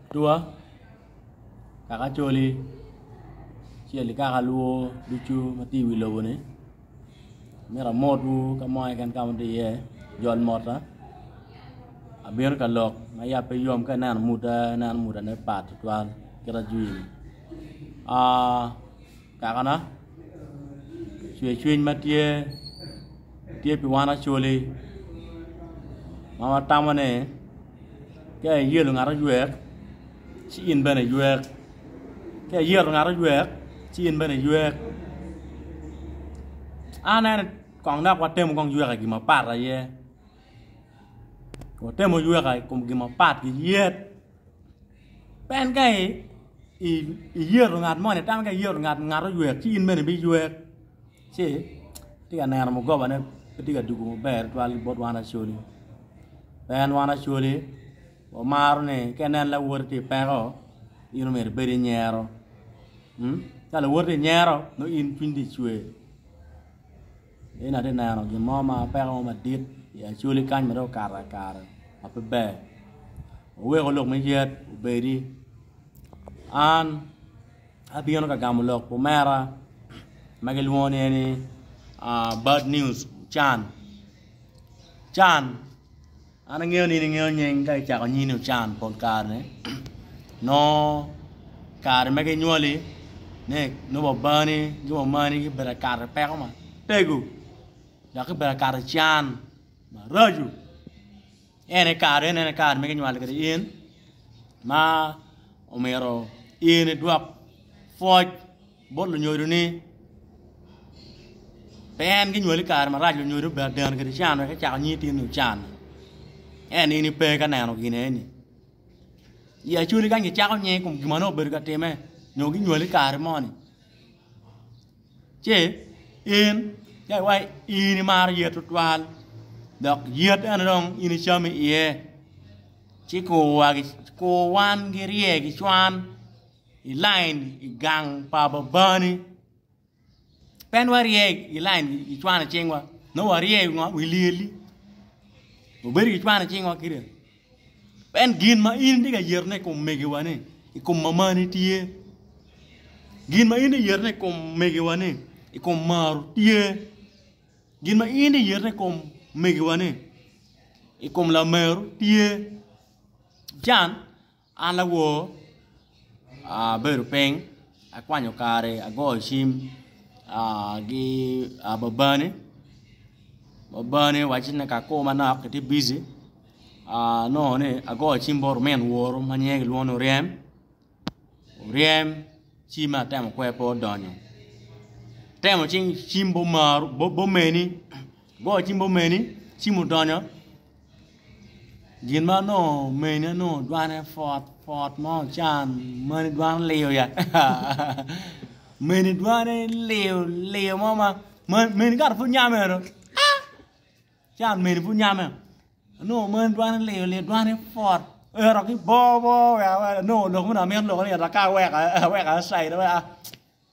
Atua kaka Acholi acel ki kaka Luo ducu ma tye i wi lobo ni myero amotwu ka mo keken ka ma atye iye jol mota abino ka lok ma yat pe yom ka ineno muda ineno mudane pat tutwal kit ajwi-ni kakana cwer cwiny ma tye tye pi wan Acholi ma watamo ni ka iyelo ngat oywek ci in bene iywek ka iyelo ngat oywek ci in bene iywek anene kong dok watemo kong yweka i gin mapat aye watemo yweka i kom gin mapat ki yet. Pien ka iyeto ngat moni tam ka iyeto ngat ngat oywer ci in bene ibiywer ci atye ka neno mugobane pe tye ka dwogo maber tutwal bot wan Acholi pien en wan Acholi wamaro ni ka inen lawote tye i peko in omyero ibed inyero ka lawote tye inyero nongo in cwiny tye icwer. In atye neno gin mo ma peko mo madit i Acholi kany ma dong okato i kare ma pe ber oweko lok me yet obedi an abino ka gamo lok pa omera ma gilwongo ni eni bad news Can, Can An angeyo ni in ingeyo nying ka kicako nyini ocan pol kare ni nongo kare ma ginywali ni nongo babani ki mamani gibedo ka kato peko matego dok gibedo ka kato can maraco ene kare eni ene kare ma ginywali kwede in ma omyero in idwok pwoc Bot lunyodo ni pe en ki nywali kare marac lunyodo bene deno kede can wek ecako nyi itini ni ocan en in ipe ka neno gin eni i acoli kany ki cako nyi ikom gima nongo obedo ka time nyo ki nywali kare moni ce in ka iwaci in imaro yet tutwal dok yet eno dong in icamo iye ci kur wa ki kur wan ki rye ki cwan i lain i gang pa Babani. Pen warye i lain i cwano cingwa, nongo warye i ngo? I lyelli. Wabedo ki cwano cingwa kida. Pen gin ma in itye ka yetone i kom megiwa-ni, i kom mamani tye. Gin ma in itye ka yetone i kom megiwa-ni, i kom Maru tye. Gin ma in itye ka yetone i kom megiwa-ni, i kom Lameru tye. Can? An awor, abedo piny, akwanyo kare, agoyo cim ki babani, babani owacci ni ka akur manok kitye bici anongo ni agoyo cim bot omin woru ma nyinge kilwongo ni Oryem, Oryem cimme atemo kwer pe odonyo, atemo cim bot omeni, agoyo cim bot omeni cim odonyo. Gin ma onongo omeni onongo dwane pwot pwot ma ocan meni dwano liyo ya meni dwane liyo liyo mo ma meni kato pud nyam eno can meni pud nyame onongo meni dwane liyo liyo dwane pwot ero ki bor bor onongo lok mene amito lok ni ero ka aweko aweko aside wek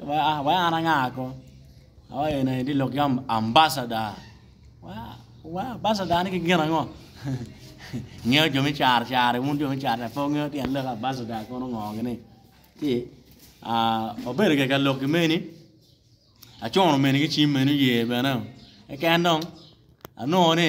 Wai an anga ko? Oh eni aye tye lok ki ambasada. Wai ambasada ni ki gin ango? Ngeyo jo me caro caro wun jo me caro caro pe wungeyo tyen lok ambasada kono ngo gini. Ci wabedo kek ka lok ki meni acunu meni ki cim meni oye bene keken dong anongo ni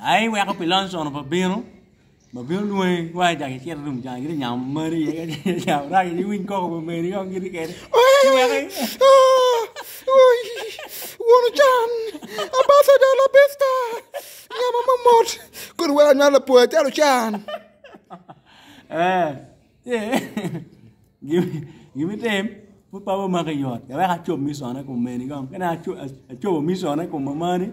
Ai iweko pi Lonson pa bino, ma bino lwongi wa i jaki cito rum jang giti nyamo mari ye nyamo raki ci winy koko pa meri kong giti kede. Iweki. Won ocan, abasada labista, nyama mamot, kodi wek anywal apoya calo can. Eh, ye. Gimi tem, put papa maki yot, wek acob misone kum meni kong, kene acobo misone kum mamani.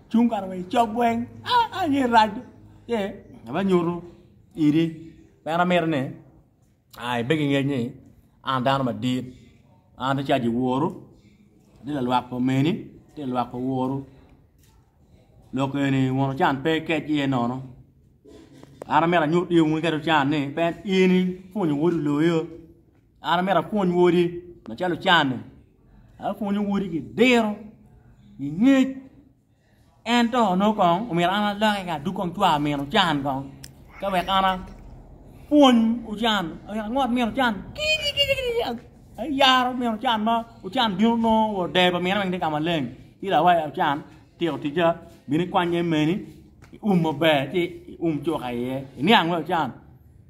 cung kare wa icok weng aa nye rac ye aba nyutu idi pera mire ni aa ibe ki ngec ni an dano madit an ti caji woru ti lalwak pa omeni ti lalwak pa woru lok eni wun ocan pe ikec iye nono an amyero anyut iwu ngeto can ni pe in ipwonyo wodi loyo An amito apwony wodi macalo can-ni, apwonyo wodi ki diro, ki ngec, ento nongo kong omyero an aloki ka adug kong cwak mino can kong ka wek an apwony ocan, omyero angot mino can kiti kiti ayaro mino can ma ocan bino nongo wa odeyo pa mine weng tye ka maleng ci lawa ocan tyeko ticca bino ikwanya i meni ium maber ci ium cuka iye iniang wai ocan.